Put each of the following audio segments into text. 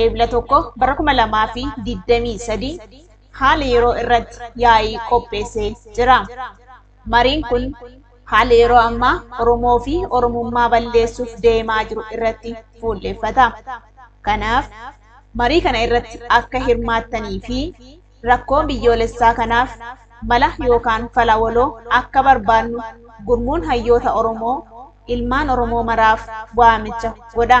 Eebla 1 bara 2023 haala yeroo irratti yaa'ii qopheessee jira. Mariin kun haala yeroo ammaa Oromoo fi Oromummaa balleessuuf deemaa jiru irratti fuulleeffata. Kanaaf marii kana irratti akka hirmaattanii fi rakkoon biyyoolessaa kanaaf mala yookaan fala waloo akka barbaadnu gurmuun hayyoota Oromoo ilmaan Oromoo maraaf waamicha godha.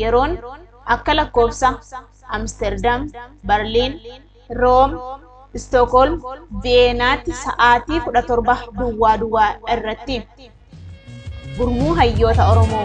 yeroon akka lakkoofsa Amsterdam, Berlin, Rome, Stockholm, Vienna tti sa'aatii 17 duwwaa duwwaa irratti. Gurmuu Hayyoota Oromoo.